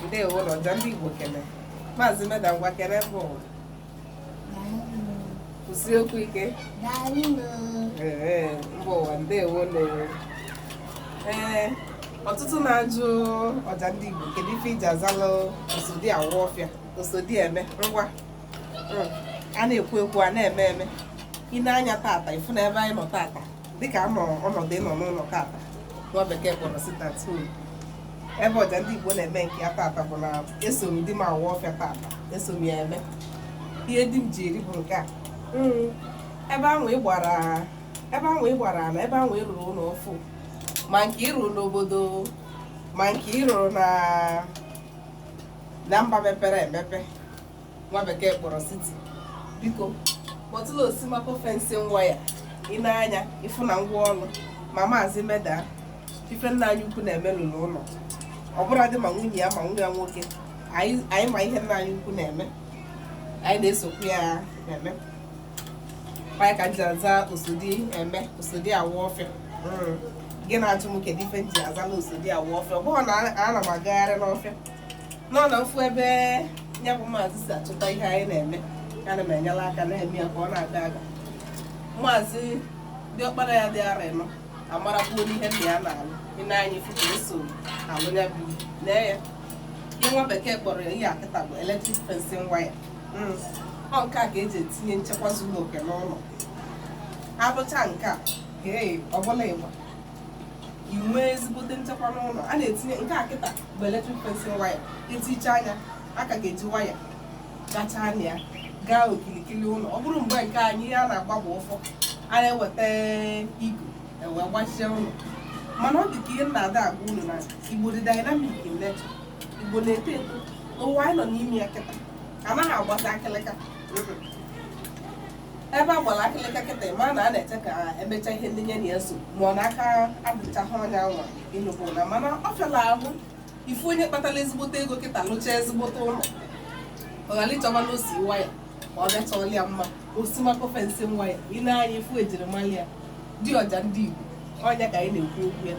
ndewo nụ ọja ndị Igbo kele maazị meda ngwa kele mba ụwa kwusi okwu ike mba ụwa ndewo nụ o ee ọtụtụ na-ajụ ọja ndị Igbo kedu ife i ji azalụ osodi awa ọfịa osodi eme ngwa hmm. a na-ekwu ekwu a na-eme eme i nee anya tata ị fụ na ebe anyị nọ tata dịka a nọ ọnọdụ ịnọ n'ụlọ tata nwa bekee kpọrọ sit-at-home ebe ọja ndị Igbo na-eme nke ya tata bụ na eso m di m awa ọfịa tata eso m ya eme ihe di m ji eri bụ nke a hmm. ebe ahụ ị gbara na ebe ahụ ị rụrụ ụlọ ọfụụ ma nke ị rụrụ n'obodo ma nke ị rụrụ na mba mepere emepe nwa bekee kpọrọ city biko kpọtụla osimako fencing wire i nee anya ị fụ na ngwa ọrụ ma maazị meda ife nna anyị ukwu na-eme lụrụ ụlọ ọ bụrụ di ma nwunye ya ma nwa ya nwoke anyị ma ihe nna anyị ukwu na-eme anyị na-esokwu ya na-eme anyị ka ji aza osodi eme osodi awa ọfịa gị na-ajụ m kedu ife m ji azala osodi awa ọfịa ọ bụghị na ana m agagharị n'ọfịa ọ na m fụ ebe ya bụ maazị si achọta ihe anyị na-eme ana m enyela aka na-eme ya ka ọ na-aga aga maazị diọkpara ya dị ara ịnọ amarakwuo n'ihe nna ya na-alụ i nee anya ị fụ ka eso alụ ya bụ lee ya ihe nwa bekee kpọrọ ya ihe a kịta bụ electric fencing wire hmm. ọ nke a ka e ji etinye nchekwa zuru oke n'ụlọ a rụcha nke a ee ọbụla ịgba i nwee ezigbote nchekwa n'ụlọ a na-etinye nke a kịta bụ electric fencing wire e tichaa nya a ka ga-eji waya gachaa nya gaa okilikili ụlọ ọ bụrụ mgbe nke anyị ihe a na-agba bụ ụfọ a na-eweta igu ewee gbachie ụlọ mana ọ dị ka ihe m na-ada agwa unu na igbo dị dynamic in nature igbo na-eto eto ụwa anyị nọ n'ime ya kịta anaghị agbazi akịlịka ebe a gbara akịlịka kịta ma na a na-eche ka e mecha ihe ndị nye na ya so ma ọ na aka adịchaghị onye anwa ịnụbụ na mana ọ fịala ahụ ịfụ onye kpatara ezigbote ego kịta lụcha ezigbote ụlọ ọ ghara ịchọba na osi waya ma ọ bịachọọla ya mma osimako fencing wire i nee anya ị fụ ejirimara ya di ọja ndị Igbo ọ nya ka anyị na-ekwu okwu ya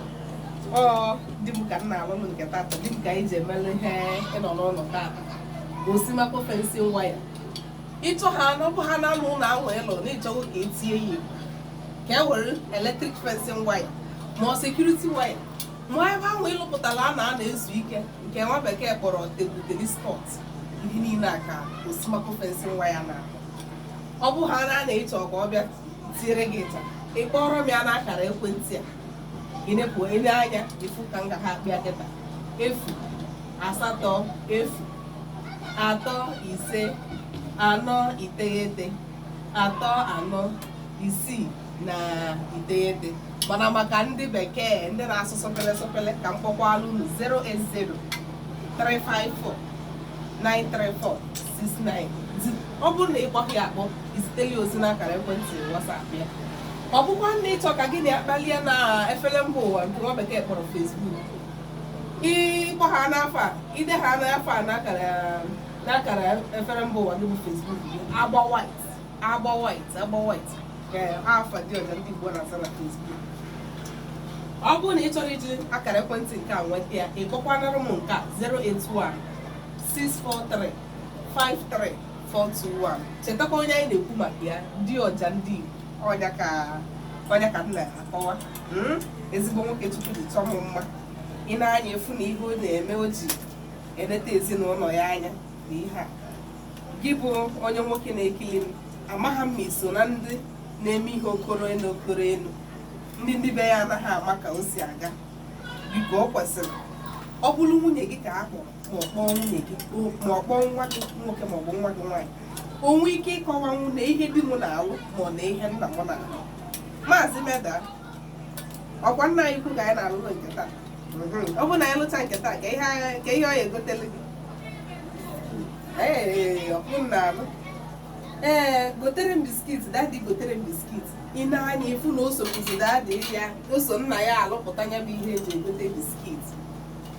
ọ di m ka m na-alụ m nke tata di m ka anyị ji emere ihe ịnọ n'ụlọ tata osimako fencing wire ịchọ ha n'ọbụ ha na anụ ụlọ ahụ ịlụ na ị chọgo ka e tinye ya ka e were eletrik fencing waya ma ọ sekuriti waya ma ebe ahụ ị lụpụtara a na-anọ ezu ike nke nwa bekee kpọrọ tebụl tenis spọt ihe niile a ka osimako fencing waya na-alụ ọ bụ ha na ị chọ ka ọ bịa tinyere gị kịta ị kpọrọ m ya n'akara ekwentị a ịnepụ ele anya ị fụ ka m ga ha akpịa kịta efu asatọ efu atọ ise anọ iteghete atọ anọ isii na iteghete mana maka ndị bekee ndị na-asụ sọpele sọpele ka m kpọkwaalụ unu 080 354 934 69 ọ bụrụ na ị kpọghị akpọ i ziteli ozi n'akara ekwentị WhatsApp ya ọ bụkwa na ị chọ ka gị na ya kpalịa na efere mba ụwa nke nwa bekee kpọrọ Facebook ị kpọ ha n'afa a i de ha n'afa a n'akara efere mba ụwa gị bụ Facebook gị agba white agba white agba white ka afa di ọja ndị Igbo na-aza na Facebook ọ bụrụ na ị chọrọ iji akara ekwentị nke a nweta ya ị kpọkwanara m nke a 081 643 53421 chetakwa onye anyị na-ekwu maka ya di ọja ndị Igbo ọ ya ka ọ ya ka m na-akọwa hmm? ezigbo nwoke Chukwu ji chọọ m mma i nee anya ị fụ na ihe ọ na-eme o ji eleta ezinụlọ ya anya na ihe a gị bụ onye nwoke na-ekili m amaghị m ma i so na ndị na-eme ihe okoro elu okoro elu ndị ndị be ya anaghị ama ka o si aga biko ọ kwesịrị ọ bụrụ nwunye gị ka a hụrụ ma ọ kpọọ nwunye gị o- ma ọ kpọọ nwa gị nwoke ma ọ bụ nwa gị nwaanyị o nwee ike ịkọwanwu na ihe di m na-alụ ma ọ na ihe nna m na-alụ Maazị Meda ọkwa nna anyị ukwu ka anyị na-alụlụ nke taa Mhm. ọ bụrụ na anyị lụcha nke taa kee ihe anyị- kee ihe ọ ya-egotele gị ee ọkpụ m na-alụ ee gotere m biskit dadi gotere m biskit i nee anya ị fụ na o sokwuzi dadi ya o so nna ya alụpụta ya bụ ihe e ji egote biskit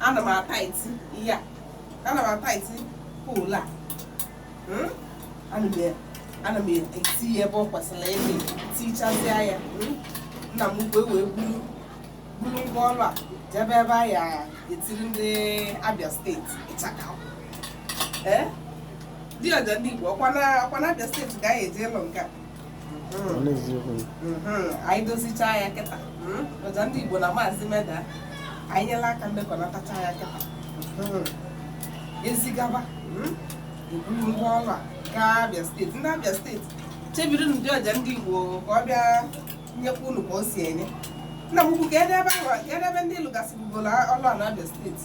ana m ataiti ihe a ana m ataiti poolu a Hmm? ana m e- ana m eti ya ebe ọ kwesịrị ịdị tichasịa ya Hmm? nna m ukwu wee buru buru ngwa ọrụ a jebe ebe a ya-etiri ndị Abia steeti ịchaka ee di ọja ndị Igbo ọkwa na ọkwa na Abia steeti ka a ya-eje ịlụ nke a anyị dozichaa ya kịta ọja ndị Igbo na Maazị Meda anyị nyela aka mmekọnatacha ya kịta e zigaba e buru ngwa ọrụ a gaa Abia steeti ndị Abia steeti chebirinụ di ọja ndị Igbo ka ọ bịa nyekwa unu ka o si enye nna m ukwu kedụ ebe ndị lụgasịbugolo ọlụ a na Abia steeti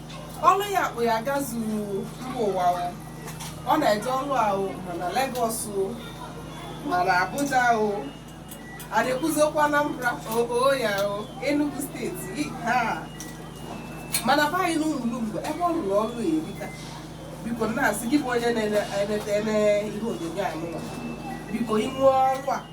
ọlụ ya kpụ ya gazuru mba ụwa o. ọ na-eje ọlụ ahụ ma na Legọs o ma na Abuja o a na-ekwuzi okwu Anambra oo ya o Enugu steeti i, ha ma na be anyị n'Ụmụlumgbe ebe ọ rụrụ ọrụ ya erika biko na-asị gị bụ onye na-enete ihe onyonyo anụnwa biko i nwee ọrụ a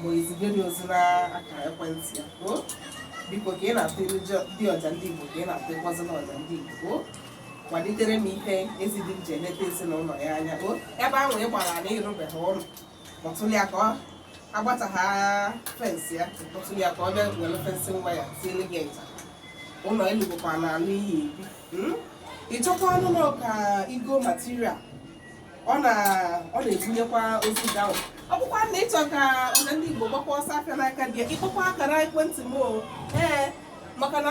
ma o ezigara ozi n'akara ekwentị ya o biko ka ị na-atụlụ jọ- di ọja ndị Igbo ka ị na-atụkwazị n'ọja ndị Igbo o kwalitere m ife ezi di m ji eleta ezinụlọ ya anya o ebe ahụ ị gbara na ị rụbeghị ụlọ kpọtụrụ ya ka ọ gbachaa fensị ya kpọtụrụ ya ka ọ bịa were fensị nwa ya tiele gị nta ụlọ elu bụkwa n'ala iyi ebi Mm? ị chọkwanụ nnọọ ka i goo material ọ na-ebunyekwa ozi gị ahụ ọ bụkwa na ị chọ ka ọja ndị Igbo gbakwa ọsọ afịa n'aka di ya ị kpọkwa akara ekwentị m o ee maka na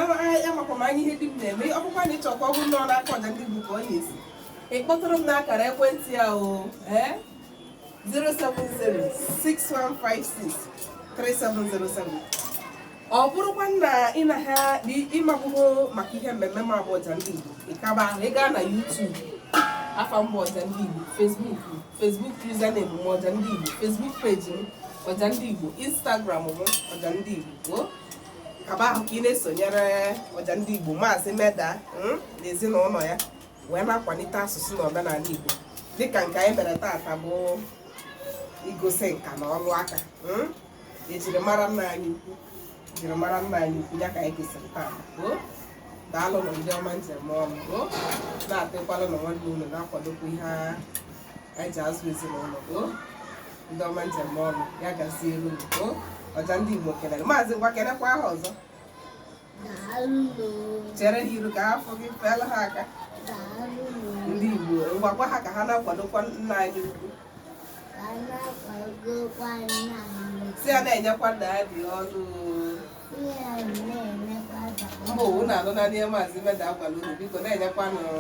amakwa m anya ihe di m na-eme ọ bụkwa na ị chọ ka ọ bụrụ na ọ n'aka ọja ndị Igbo ka ọ na-esi ị kpọtụrụ m n'akara ekwentị a o ee 070 6156 3707 ọ bụrụkwa na ị na ha ịmakwụkwọ maka ihe mmemme mụ bụ ọja ndị Igbo ịkaba ahụ ị gaa na YouTube afa m bụ ọja ndị Igbo Facebook username m ọja ndị Igbo Facebook page m ọja ndị Igbo Instagram m ọja ndị Igbo ka ebe ahụ ka ị na-esonyere ọja ndị Igbo maazị Meda hmm, na ezinụlọ ya wee na-akwalite asụsụ na omenala Igbo dịka nke anyị mere taata bụ igosi nka na ọrụ aka hmm? e jiri mara nna anyị ukwu e jiri mara nna anyị ukwu ya ka anyị kesịrị taa daalụ nụ ndị ọma m ji eme ọnụ na-atụkwalanụ nwanne unu na-akwadokwa ihe anyị ji azụ ezinụlọ ndị ọma m ji eme ọnụ ya gaziere unu ọja ndị Igbo kelere maazị ngwa kelekwa ha ọzọ chere ha iru ka ha fụ gị feela ha aka ndị Igbo gwakwa ha ka ha na-akwadokwa nna anyị ukwu sị ya na-enyekwa nna ya dị ọnụ mba unu na-anụ na ihe maazị Meda agwala unu biko na-enyekwa nụ